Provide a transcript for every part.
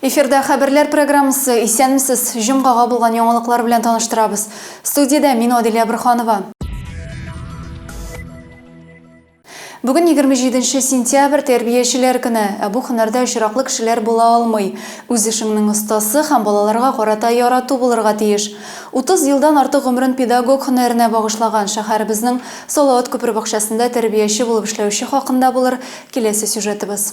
Эфирда хәбәрләр программасы исәнмесез. Җомгага булган яңалыклар белән таныштырабыз. Студиядә мин Адилә Бурханова. Бүген егерме җиденче сентябрь, тәрбиячеләр көне. Ә бу һөнәрдә очраклы кешеләр була алмый. Үз эшеңнең остасы һәм балаларга карата ярату булырга тиеш. Утыз елдан артык гомерен педагог һөнәренә багышлаган, шәһәребезнең Салават күпер бакчасында тәрбияче булып эшләүче хакында булыр киләсе сюжетыбыз.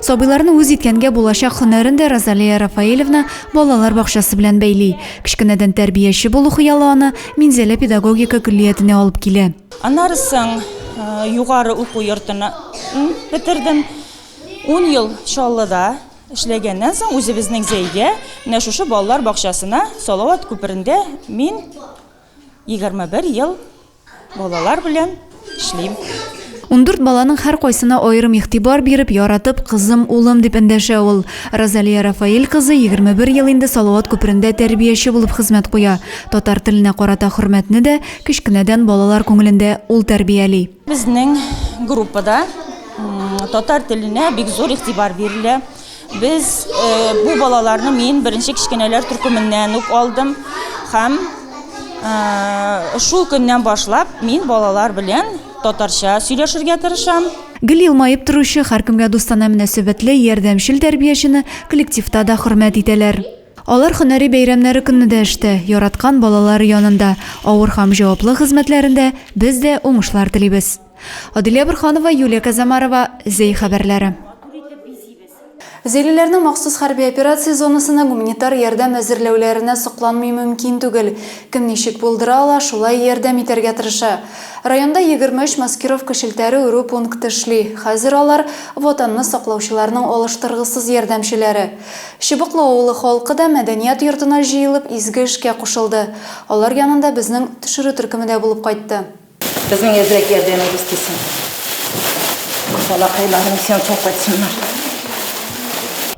Сабыйларны үз иткәнгә булачак һөнәрен дә Розалия Рафаэлевна балалар бакчасы белән бәйли. Кечкенәдән тәрбияче булу хыялы аны Минзәлә педагогика көллиятенә алып килә. Аннары соң югары уку йортын бетердем. Ун ел Чаллыда эшләгәннән соң, үзебезнең Зәйгә, менә шушы балалар бакчасына, Салават күперендә мин егерме бер ел Балалар белән эшлим. Ундүрт баланың һәркайсына аерым игътибар биреп, яратып, кызым, улым дип эндәшә ул. Розалия Рафаэль кызы егерме бер ел инде Салават күперендә тәрбияче булып хезмәт куя. Татар теленә карата хөрмәтне дә кечкенәдән балалар күңелендә ул тәрбияли. Безнең группада татар теленә бик зур игътибар бирелә. Без бу балаларны мин беренче кечкенәләр төркеменнән үк алдым һәм шул көннән башлап мин балалар белән татарча сөйләшергә тырышам. Гел елмаеп торучы, һәркемгә дустана мөнәсәбәтле, ярдәмчел тәрбиячене коллективта да хөрмәт итәләр. Алар һөнәри бәйрәмнәре көнне дә эштә, яраткан балалары янында, авыр һәм җаваплы хезмәтләрендә без дә уңышлар телибез. Аделя Борханова, Юлия Казамарова, Зәй хәбәрләре. Зәйлеләрнең махсус хәрби операция зонасына гуманитар ярдәм әзерләүләренә сокланмый мөмкин түгел. Кем ничек булдыра ала, шулай ярдәм итәргә тырыша. Районда егерме өч маскировка челтәре үрү пункты эшли. Хәзер алар, Ватанны саклаучыларның алыштыргысыз ярдәмчеләре. Чыбыклы авылы халкы да мәдәният йортына җыелып, изге эшкә кушылды. Алар янында безнең төшерү төркеме дә булып кайтты. Безнең әзрәк ярдәмебез тисен. Балакайларны сен сау кайтсыннар.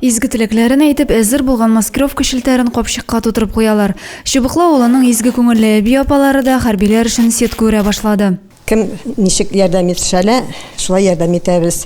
Изге теләкләрен әйтеп, әзер булган маскировка челтәрен капчыкка тутырып куялар. Чыбыклы авылының изге күңелле әби-апалары да хәрбиләр өчен сетка үрә башлады. Кем ничек ярдәм итешә лә, шулай ярдәм итәбез.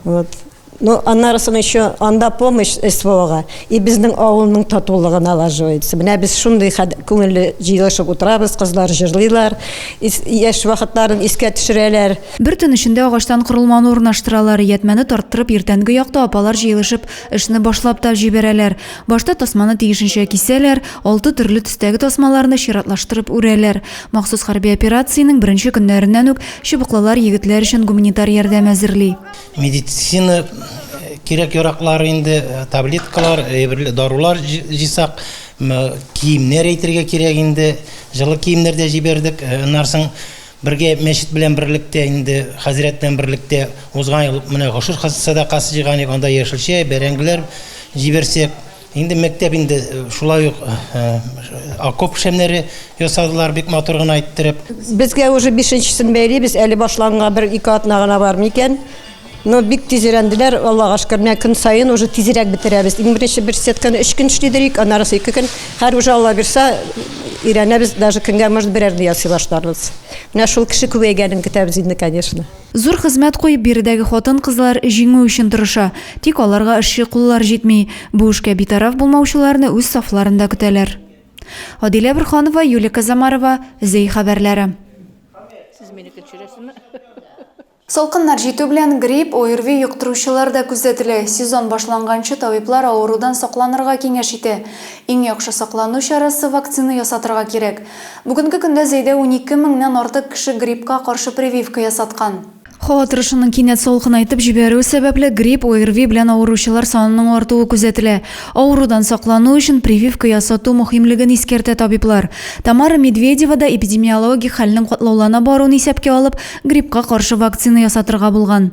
Вот. Ну, аннарысын еще анда помощь СВОга и безнең авылның татулыгы налаживается. Менә без шундый күңелле җыелышып утырабыз, кызлар җырлыйлар, яшь вакытларын искә төшерәләр. Бер төн эчендә агачтан корылманы урнаштыралар, иятмәне тарттырып, иртәнге якта апалар җыелышып, эшне башлап та җибәрәләр. Башта тасманы тиешенчә кисәләр, алты төрле төстәге тасмаларны чиратлаштырып үрәләр. Махсус хәрби операциянең беренче көннәреннән үк чыбыклылар егетләр өчен гуманитар ярдәм әзерли. Медицина кирәк-яраклар инде, таблеткалар, әйберләр, дарулар җыйсак, киемнәр әйтергә кирәк инде. Җылы киемнәр дә җибәрдек. Аннан соң бергә мәчет белән берлектә инде, хәзрәт белән берлектә узган ел менә гошер сәдакасы җыйган идек, анда яшелчә, бәрәңгеләр җибәрсәк, Инде мәктәп инде шулай ук окоп шәмнәре ясадылар, бик матур гына иттереп. Безгә уже бишенчесен бәйлибез, әле башланганга бер-ике атна гына бар микән. Но бик тиз өйрәнделәр, Аллага шөкер. Менә көн саен уже тизрәк бетерәбез. Иң беренче бер сетканы өч көн эшли идек, аннарысы ике көн. Хәзер уже Алла бирса, өйрәнәбез, даже көнгә может берәрне ясый башларбыз. Менә шул кеше күбәйгәнен көтәбез инде, конечно. Зур хезмәт куеп, биредәге хатын-кызлар җиңү өчен тырыша. Тик аларга эшче куллар җитми. Бу эшкә битараф булмаучыларны үз сафларында көтәләр. Адилә Борханова, Юлия Козомарова, Зәй хәбәрләре. Салкыннар җитү белән грипп, ОРВИ йоктыручылар да күзәтелә. Сезон башланганчы табиблар авырудан сакланырга киңәш итә. Иң яхшы саклану чарасы, вакцина ясатырга кирәк. Бүгенге көндә Зәйдә унике меңнән артык кеше гриппка каршы прививка ясаткан. Һава торышының кинәт салкынайтып җибәрүе сәбәпле, грипп, ОРВИ белән авыручылар санының артуы күзәтелә. Авырудан саклану өчен прививка ясату мөһимлеген искәртә табиблар. Тамара Медведева да эпидемиологик хәлнең катлаулана баруын исәпкә алып, гриппка каршы вакцина ясатырга булган.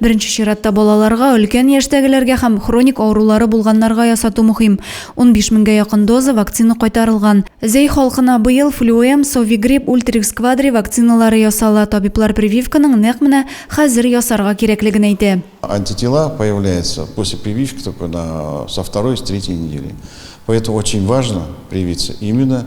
Беренче чиратта балаларга, өлкән яшьтәгеләргә һәм хроник авырулары булганнарга ясату мөһим. Унбиш меңгә якын доза вакцина кайтарылган. Зәй халкына быел Флюэм, Совигрипп, Ультрикс Квадри вакциналары ясала. Табиблар прививканың нәкъ менә хәзер ясарга кирәклеген әйтә. Антитела появляются после прививки только на со второй, с третьей недели. Поэтому очень важно привиться именно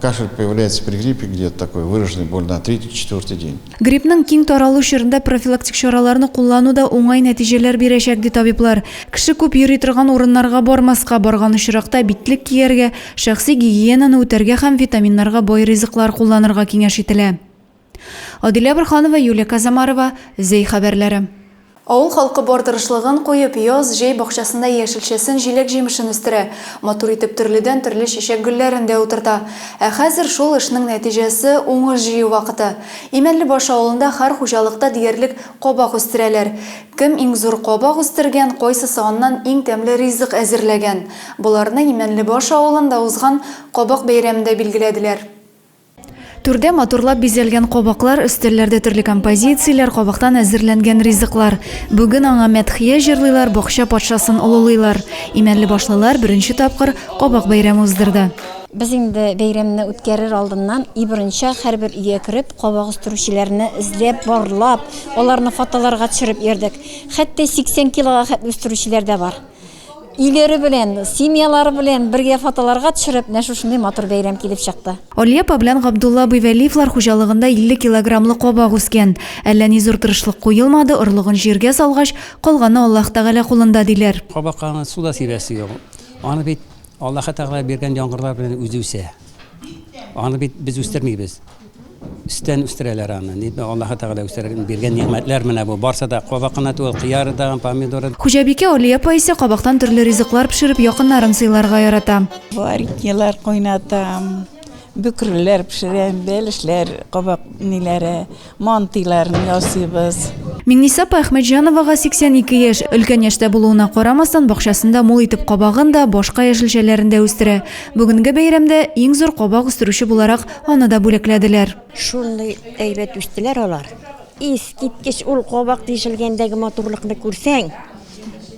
Кашель появляется при гриппе где-то такой выраженный боль на третий-четвертый день. Гриппның киң таралу чорында профилактик чараларны куллану да уңай нәтиҗәләр бирәчәк, ди табиблар. Кеше күп йөри торган урыннарга бармаска, барган очракта битлек кияргә, шәхси гигиенаны үтәргә һәм витаминнарга бай ризыклар кулланырга киңәш ителә. Адилә Борханова, Юлия Казамарова, Зәй хәбәрләре. Авыл халкы бар тырышлыгын куеп, яз, җәй бакчасында яшелчәсен, җиләк-җимешен үстерә, матур итеп төрледән-төрле чәчәк гөлләрен дә утырта. Ә хәзер шул эшнең нәтиҗәсе, уңыш җыю вакыты. Имәнлебаш авылында һәр хуҗалыкта диярлек кабак үстерәләр. Кем иң зур кабак үстергән, кайсысы аннан иң тәмле ризык әзерләгән? Боларны Имәнлебаш авылында узган Кабак бәйрәмендә билгеләделәр. Түрдә матурлап бизәлгән кабаклар, өстәлләрдә төрле композицияләр, кабактан әзерләнгән ризыклар. Бүген аңа мәдхия җырлыйлар, бакча патшасын олылыйлар. Имәнлебашлылар беренче тапкыр кабак бәйрәме уздырды. Без инде бәйрәмне үткәрер алдыннан и борынча һәрбер өйгә кереп, кабак үстерүчеләрне эзләп, барлап, аларны фотоларга төшереп йөрдек. Хәтта 80 килога хәтле үстерүчеләр дә бар. Өйләре белән, семьялары белән бергә фотоларга төшереп, менә шушындый матур бәйрәм килеп чыкты. Алия апа белән Габдулла абый Вәлиевлар хуҗалыгында 50 килограммлы кабак үскән. Әллә ни зур тырышлык куелмады, орлыгын җиргә салгач, калганы Аллаһ Тәгалә кулында, диләр. Кабакка аны суда сибәсе юк. Аны бит Аллаһы Тәгалә биргән яңгырлар белән үзе үсә. Аны бит без үстермибез. Өстән үстерәләр аны. Ди, Аллаһы Тәгалә үстерергә биргән нигъмәтләр менә бу. Барсы да кабак кына түгел, кыяры да, помидоры да. Хуҗабикә Алия апа исә кабактан төрле ризыклар пешереп, якыннарын сыйларга ярата. Вареньелар кайнатам, бөкреләр пешерәм, бәлешләр, кабак ниләре, мантыйларын ясыйбыз. Миңниса апа Әхмәтҗановага 82 яшь. Өлкән яшьтә булуына карамастан, бакчасында мул итеп кабагын да, башка яшелчәләрен дә үстерә. Бүгенге бәйрәмдә иң зур кабак үстерүче буларак, Аны да бүләкләделәр. Шундый әйбәт үстеләр алар. Искиткеч ул кабак тишелгәндәге матурлыкны күрсәң,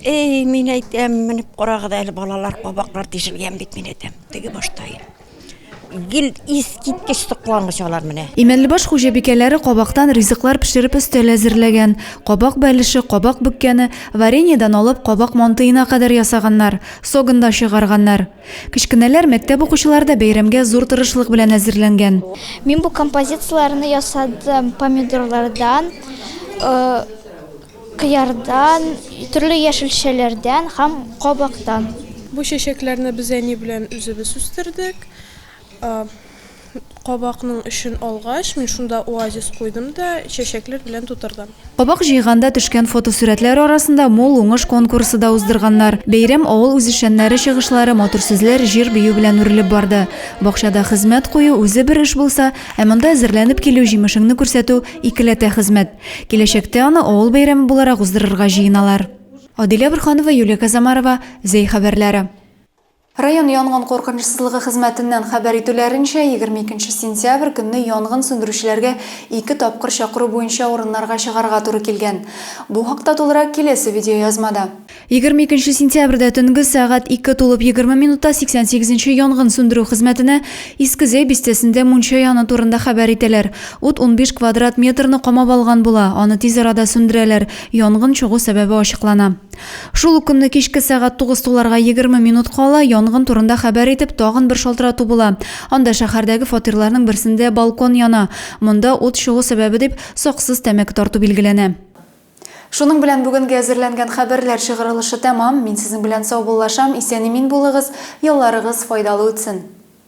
эй, мин әйтәм, менеп карагыз әле, балалар, кабаклар тишелгән бит, мин әйтәм, теге башта гел искиткеч соклангыч алар менә. Имәнлебаш хуҗабикәләре кабактан ризыклар пешереп өстәл әзерләгән. Кабак бәлеше, кабак бөккәне, вареньедан алып кабак мантыена кадәр ясаганнар, согында чыгарганнар. Кечкенәләр, мәктәп укучылары да бәйрәмгә зур тырышлык белән әзерләнгән. Мин бу композицияләрне ясадым помидорлардан, кыярдан, төрле яшелчәләрдән һәм кабактан. Бу чәчәкләрне без әни белән үзебез үстердек. кабакның эчен алгач, мин шунда оазис куйдым да, чәчәкләр белән тутырдым. Кабак җыйганда төшкән фотосурәтләр арасында Мул уңыш конкурсы да уздырганнар. Бәйрәм авыл үзешчәннәре чыгышлары, матур сүзләр, җыр-бию белән үрелеп барды. Бакчада хезмәт кую, үзе бер эш булса, ә монда әзерләнеп килү, җимешеңне күрсәтү, икеләтә хезмәт. Киләчәктә аны авыл бәйрәме буларак уздырырга җыеналар. Адилә Борһанова, Юлия Казамарова, Зәй хәбәрләре. Район янгын куркынычсызлыгы хезмәтеннән хәбәр итүләренчә, егерме икенче сентябрь көнне янгын сүндерүчеләргә ике тапкыр чакыру буенча урыннарга чыгарга туры килгән. Бу хакта тулырак киләсе видеоязмада. Егерме икенче сентябрьдә төнге сәгать ике тулып егерме минутта сиксән сигезенче янгын сүндерү хезмәтенә Иске Зәй бистәсендә мунча яну турында хәбәр итәләр. Ут унбиш квадрат метрны камап алган була, аны тиз арада сүндерәләр, янгын чыгу сәбәбе ачыклана. Шул ук көнне кичке сәгать тугыз туларга егерме минут кала янгын турында хәбәр итеп, тагын бер шалтырату була. Анда шәһәрдәге фатирларның берсендә балкон яна. Монда ут чыгу сәбәбе дип, саксыз тәмәке тарту билгеләнә. Шуның белән бүгенге әзерләнгән хәбәрләр чыгарылышы тәмам. Мин сезнең белән саубуллашам, исән-имин булыгыз, ялларыгыз файдалы үтсен!